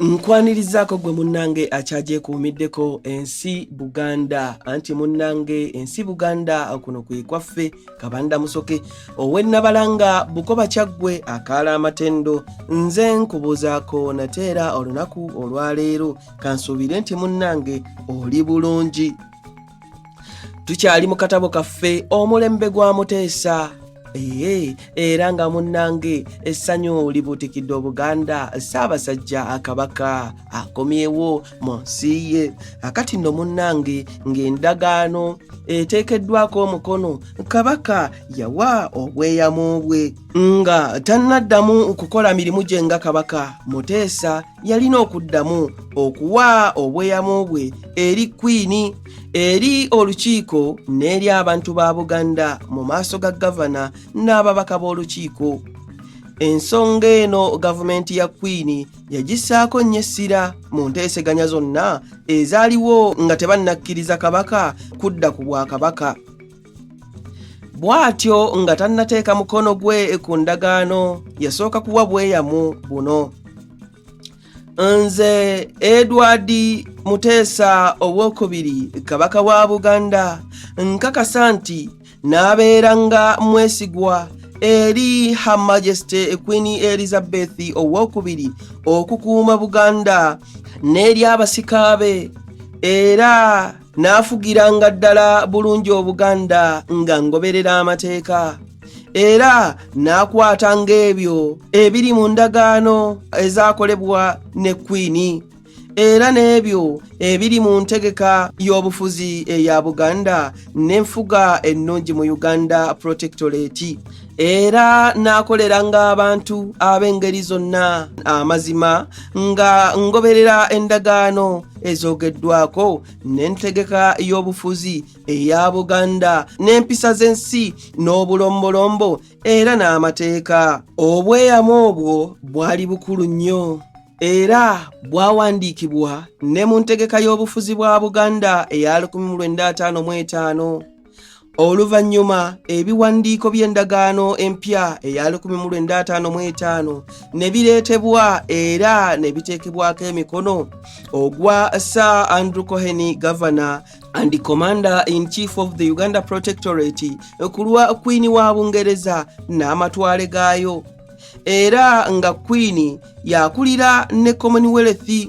nkwanirizaako gwe munnange akyagyekuumiddeko ensi buganda anti munnange ensi buganda kuno kwe kwaffe kabanda musoke owennabalanga bukoba kyaggwe akaala amatendo nze nkubuuzaako nate era olunaku olwaleero kansuubire nti munnange oli bulungi tukyali mu katabo kaffe omulembe gwa muteesa ee era nga munnange essanyu libuutikidde obuganda ssaabasajja akabaka akomyewo mu nsi ye akati nno munnange ng'endagaano eteekeddwako omukono kabaka yawa obweyamu bwe nga tannaddamu okukola mirimu gye nga kabaka muteesa yalina okuddamu okuwa obweyamu bwe eri kwiini eri olukiiko n'eri abantu ba buganda mu maaso ga gavana n'ababaka b'olukiiko ensonga eno gavumenti ya kwiini yagissaako nnyo essira mu nteeseganya zonna ezaaliwo nga tebannakkiriza kabaka kudda ku bwakabaka bw'atyo nga tannateeka mukono gwe ku ndagaano yasooka kuwa bweyamu buno nze edward muteesa owokubiri kabaka wa buganda nkakasa nti n'abeera nga mwesigwa eri her majesty queen elizabeth owokubiri okukuuma buganda n'eri abasikaabe era naafugiranga ddala bulungi obuganda nga ngoberera amateeka era n'akwata ng'ebyo ebiri mu ndagaano ezaakolebwa ne kwini era n'ebyo ebiri mu ntegeka y'obufuzi eya buganda n'enfuga ennungi mu uganda protectorate era n'akoleranga abantu ab'engeri zonna amazima nga ngoberera endagaano ezoogeddwako n'entegeka y'obufuzi eya buganda n'empisa z'ensi n'obulombolombo era n'amateeka obweyamo obwo bwali bukulu nnyo era bwawandiikibwa ne mu ntegeka y'obufuzi bwa buganda eya 1955 oluvannyuma ebiwandiiko by'endagaano empya eya 1955 ne bireetebwa era ne biteekebwako emikono ogwa sir andrew coheny governor and the commander in chief of the uganda protectorate ku lwa kwini wa bungereza n'amatwale gaayo era nga kwini yakulira ne commonwealth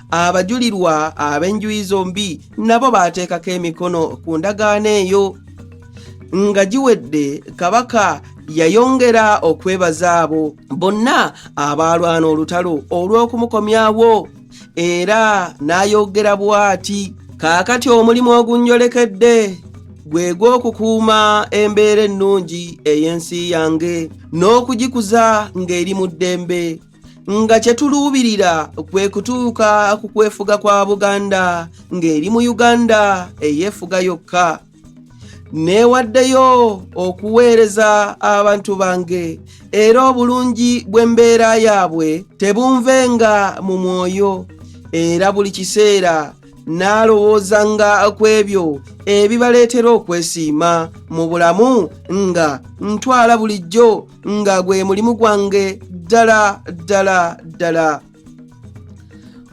abajulirwa ab'enjuyi zombi nabo baateekako emikono ku ndagaano eyo nga giwedde kabaka yayongera okwebaza abo bonna abaalwana olutalo olw'okumukomyawo era n'ayogera bw'ati kaakati omulimu ogunnyolekedde gwe gw'okukuuma embeera ennungi ey'ensi yange n'okugikuza ng'eri mu ddembe nga kye tuluubirira kwe kutuuka ku kwefuga kwa Buganda ng'eri mu Uganda eyeefuga yokka. Neewaddeyo okuweereza abantu bange era obulungi bw'embeera yaabwe tebunvenga mu mwoyo era buli kiseera n'alowoozanga ku ebyo ebibaleetera okwesiima mu bulamu nga ntwala bulijjo nga gwe mulimu gwange ddala ddala ddala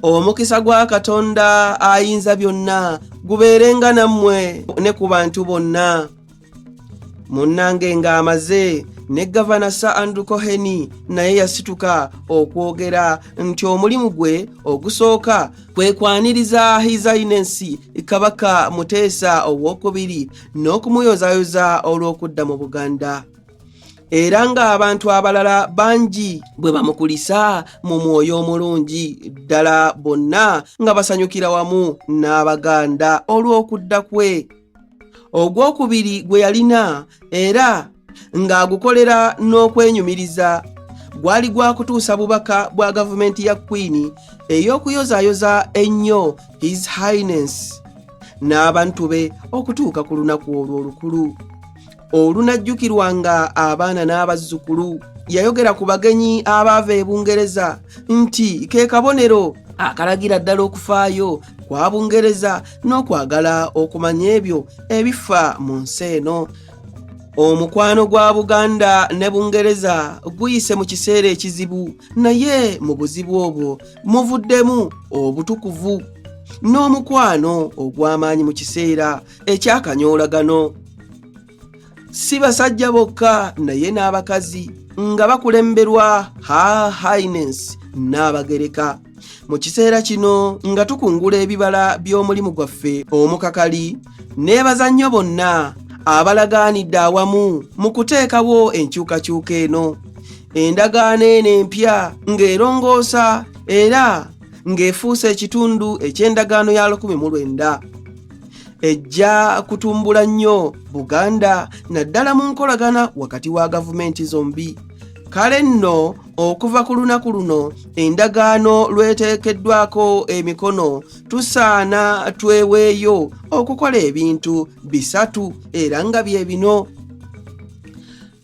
omukisa gwa katonda ayinza byonna gubeerenga nammwe ne ku bantu bonna munnange ng'amaze ne gavana sir andrew coheni naye yasituka okwogera nti omulimu gwe ogusooka kwe kwaniriza hisainensi kabaka muteesa owokubiri n'okumuyozayoza olw'okudda mu buganda era ng'abantu abalala bangi bwe bamukulisa mu mwoyo omulungi ddala bonna nga basanyukira wamu n'abaganda olw'okudda kwe ogw'okubiri gwe yalina era ng'agukolera n'okwenyumiriza gwali gwa kutuusa bubaka bwa gavumenti ya kwini ey'okuyozaayoza ennyo his highness n'abantu be okutuuka ku lunaku olwo olukulu olunajjukirwa nga abaana n'abazzukulu yayogera ku bagenyi abaava e bungereza nti ke kabonero akalagira ddala okufaayo kwa bungereza n'okwagala okumanya ebyo ebifa mu nsi eno omukwano gwa buganda ne bungereza guyise mu kiseera ekizibu naye mu buzibu obwo muvuddemu obutukuvu n'omukwano ogw'amaanyi mu kiseera ekyakanyoolagano si basajja bokka naye n'abakazi nga bakulemberwa her highness n'abagereka mu kiseera kino nga tukungula ebibala by'omulimu gwaffe omukakali neebaza nnyo bonna abalagaanidde awamu mu kuteekawo enkyukakyuka eno endagaano eno empya ng'erongoosa era ng'efuuse ekitundu eky'endagaano ya 19 ejja kutumbula nnyo buganda naddala mu nkolagana wakati wa gavumenti zombi kale nno okuva ku lunaku luno endagaano lweteekeddwako emikono tusaana tweweeyo okukola ebintu bisatu era nga bye bino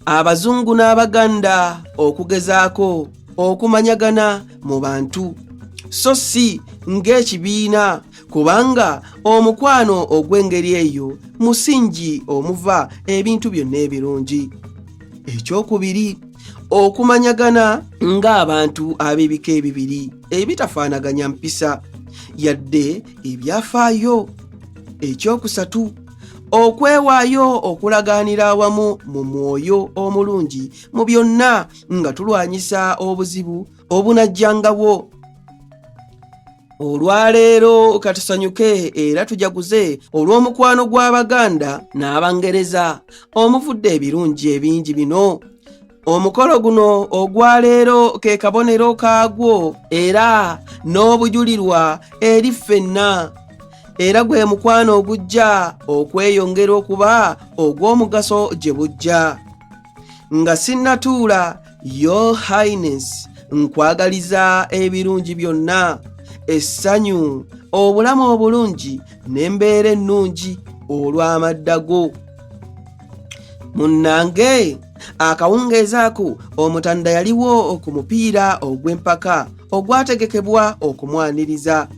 abazungu n'abaganda okugezaako okumanyagana mu bantu so si ng'ekibiina kubanga omukwano ogw'engeri eyo musingi omuva ebintu byonna ebirungi ekyokubiri okumanyagana ng'abantu ab'ebika ebibiri ebitafaanaganya mpisa yadde ebyafaayo ekyokusatu okwewaayo okulaganira awamu mu mwoyo omulungi mu byonna nga tulwanyisa obuzibu obunajjangawo olwaleero katusanyuke era tujaguze olw'omukwano gw'abaganda n'abangereza omuvudde ebirungi ebingi bino omukolo guno ogwaleero ke kabonero kaagwo era n'obujulirwa eri ffenna era gwe mukwano ogujja okweyongera okuba ogw'omugaso gye bujja nga sinnatuula your highness nkwagaliza ebirungi byonna essanyu obulamu obulungi n'embeera ennungi olw'amadda go munnange akawungeezi ako omutanda yaliwo ku mupiira ogw'empaka ogwategekebwa okumwaniriza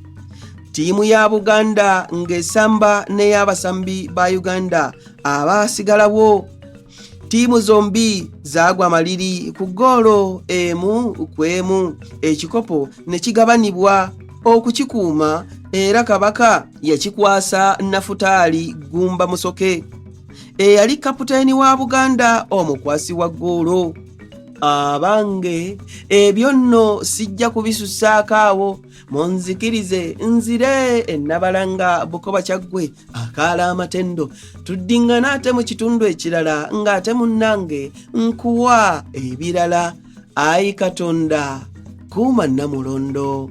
ttiimu ya buganda ng'esamba n'ey'abasambi ba uganda abaasigalawo ttiimu zombi zaagwa amaliri ku ggoolo emu ku emu ekikopo ne kigabanibwa okukikuuma era kabaka yakikwasa nafutaali gumba musoke eyali kaputeni wa buganda omukwasi wa ggoolo abange ebyo nno sijja kubisusaako awo munzikirize nzire ennabalanga bukoba kyaggwe akaala amatendo tuddingana ate mu kitundu ekirala ng'ate munnange nkuwa ebirala ayi katonda kuuma nnamulondo